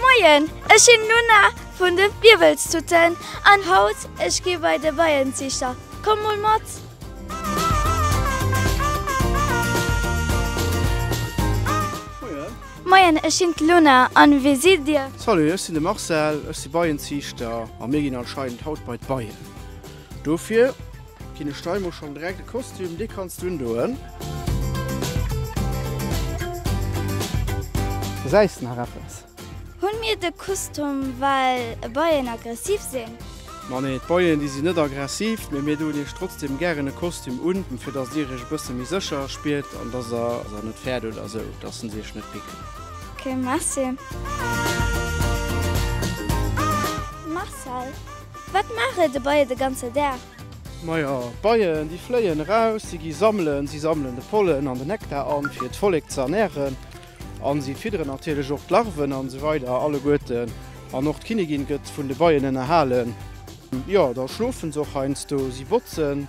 Moien, ech sinn Nuna vun de Wiwwelstutten an haut ech gi bei de Beienziichter. Komm mol mat! Moien, ech sinn d'Luna an wee sidd Dir? Salut, ech sinn de Marcel, ech si Beienziichter a mir ginn anscheinend haut bei d'Beien. Dofir ginn ech der emol schonn direkt e Kostüm, dee kanns du undoen. Gesäis de nach eppes? Hunn mir de Kustum well e beien aggressiv sinn? Ma nee, d'Beien déi sinn net aggressiv, mee mir doen iech trotzdem gären e Kostüm un, fir datt dir iech e bësse méi sécher spiert an datt der se net fäert oder esou, datt se se iech net picken. Ok, merci. Marcel. Wat maache de Beie de ganze Dag? Majo, d'Beien, déi fléien eraus, si gi sammelen. Si sammelen de Pollen an de Nektar an, fir d'Vollek ze ernären. An si fidderen natierlech och d'Larven an esou weider alleguerten. An och d'Kinnigin gëtt vun de Beien ënnerhalen. Jo, da schlofen se och heiansdo. Si botzen.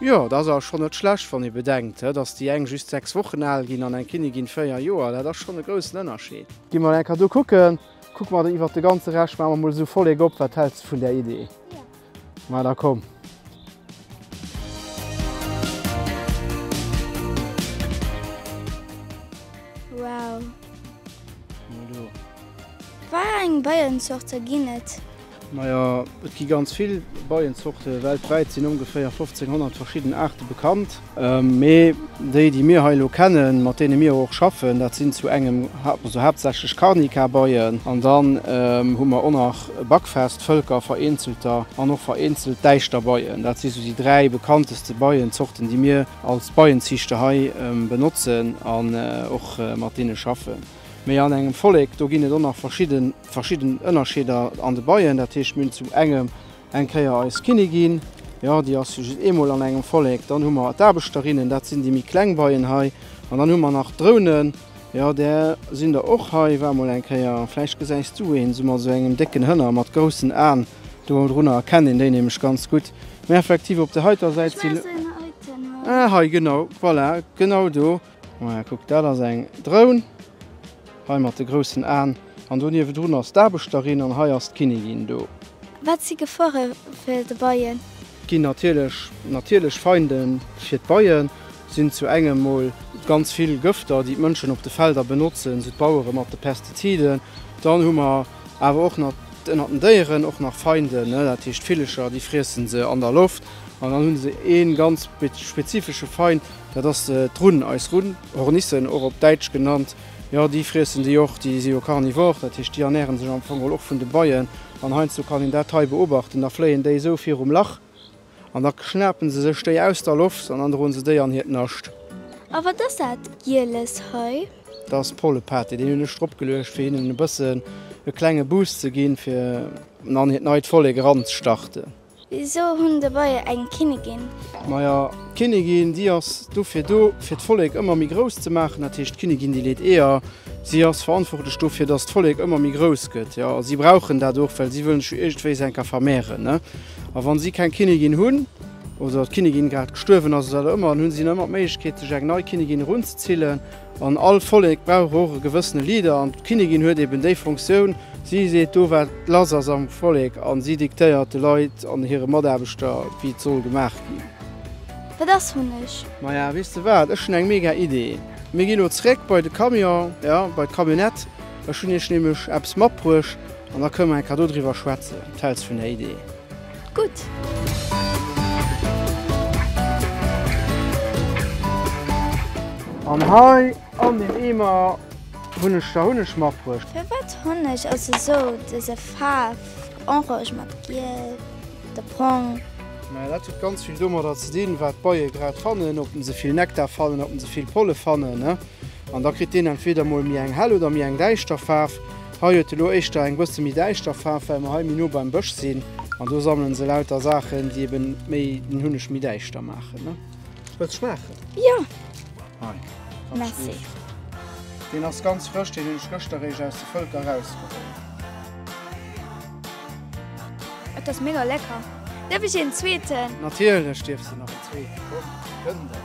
Jo, et ass awer schonn net schlecht, wann ee bedenkt, dass déi eng just 6 Wochen al ginn an eng Kinnigin 4 Joer. Dat ass schonn e groussen Ënnerscheed. Gi mer eng Kéier do kucken. Kucke mer iwwert de ganze Rescht. Maache mer mol esou Vollek op. Wat häls de vun där Idee? Ma da komm. Wow! Wa eng Beienzorte ginn et? Naja, et gi ganz vill Beienzorte. Weltwäit sinn ongeféier 1500 verschidden Aarte bekannt. Mee déi, déi mir hei elo kennen, mat deene mir och schaffen, dat sinn zu engem, also haaptsächlech Carnica-Beien. An dann hu mer och nach Buckfast, Völker, vereenzelter, an och vereenzelt Däischterbeien. Dat si sou déi dräi bekannteste Beienzorten, déi mir als Beienziichter hei benotzen an och mat deene schaffen. Mee an engem Vollek, do ginn et och nach verschidden, verschidden Ënnerscheeder an de Beien. Dat heescht, mir hunn zum engem eng Kéier eis Kinnigin, jo, déi ass jo just eemol an engem Vollek. Dann hu mer d'Aarbechterinnen, dat sinn déi méi kleng Beien hei. An dann hu mer nach d'Drounen, jo, där sinn der och hei, war emol eng Kéier. Vläicht gesäis du een esou mat esou engem décken Hënner mat groussen Aen do drunner, erkenn een déi nämlech ganz gutt. Mä effektiv op där heiter Säit sinn, ah, hei, genau, voilà, genau do. Maja kuck, dat ass eng Drone, hei mat de groussen Aen, an do niewedrun ass d'Aarbechterin an hei ass d'Kinnigin do. Wat si Gefoere fir de Beien? Ginn natierlech natierlech Feinde fir d'Beien, sinn zu engem mol ganz vill Gëfter, déi d'Mënschen op de Felder benotzen, sou d'Bauere mat de Pestiziden. Dann hu mer awer och nach ënner den Déieren och nach Feinde, dat heescht Villecher, déi friessen se an der Loft. An dann hu se ee ganz spezifesche Feind, Dat ass d'Runn, eis Runn, Hornissen och op Däitsch genannt. Jo, déi friessen déi och, déi si jo carnivore, dat heescht déi ernäre sech am Fong och vun de Beien. An heiansdo kann een dat hei beobachten, da fléien déi esou virum Lach an da schnapen se sech déi aus der Loft an dann droen se déi an hiert Nascht. A wat ass dat Gieles hei? Dat ass Pollepate, deen hunn ech drop geluecht fir hinnen e bëssen e klenge Boost ze ginn, fir an hiert neit Vollek eranzestarten. Wisou hunn de Beie eng Kinnigin? Maja, d'Kinnigin, déi ass dofir do, fir d'Vollek ëmmer méi grouss ze maachen. Dat heescht, d'Kinnigin, déi leet Eeër. Si ass verantwortlech dofir, datt d'Vollek ëmmer méi grouss gëtt. Jo, a si brauchen dat och, well si wëllen sech jo iergendwéis enker vermehren, ne? A wa si keng Kinnigin hunn, oder d'Kinnigin grad gestuerwen ass oder wat och ëmmer, dann hu si ëmmer d'Méiglechkeet, sech eng nei Kinnigin erunzezillen. An all Vollek brauch och e gewëssene Leader an d'Kinnigin huet eben déi Fonctioun, si seet do wat lass ass am Vollek an si diktéiert de Leit an hire Mataarbechter wéi et soll gemaach ginn. Wat ass Hunneg? Maja, weess de wat, ech hunn eng mega Idee, mir gi lo zeréck bei de Camion, jo, bei d'Camionnette, ech hunn iech nämlech eppes matbruecht an da kënne mer enker do driwwer schwätzen, wat häls vun där Idee? An hei an den Eemer hun ech da Hunneg matbruecht. Firwat Honneg ass esou dëse Faarf, orange mat giel oder brong? Mä dat huet ganz vill domadder ze dinn, wat d'Beie grad fannen, ob se vill Nektar fannen, ob se vill Polle fannen. An da kritt deen entweder mol méi eng hell oder méi eng däischter Faarf. Hei huet elo éischter eng bësse méi däischter Faarf, well mer hei méi no beim Bësch sinn an do sammelen se lauter Saachen, déi eben méi den Hunneg méi däischter maachen, ne? Wëlls schmaachen? Jo. Hei, dat ass gutt. Merci. Deen ass ganz frësch, deen hunn ech gëschter eréischt aus de Völker erausgeholl. Et ass mega lecker. Däerf ech een zweeten? Natierlech dierfs de nach en zweeten. Komm, gënn der.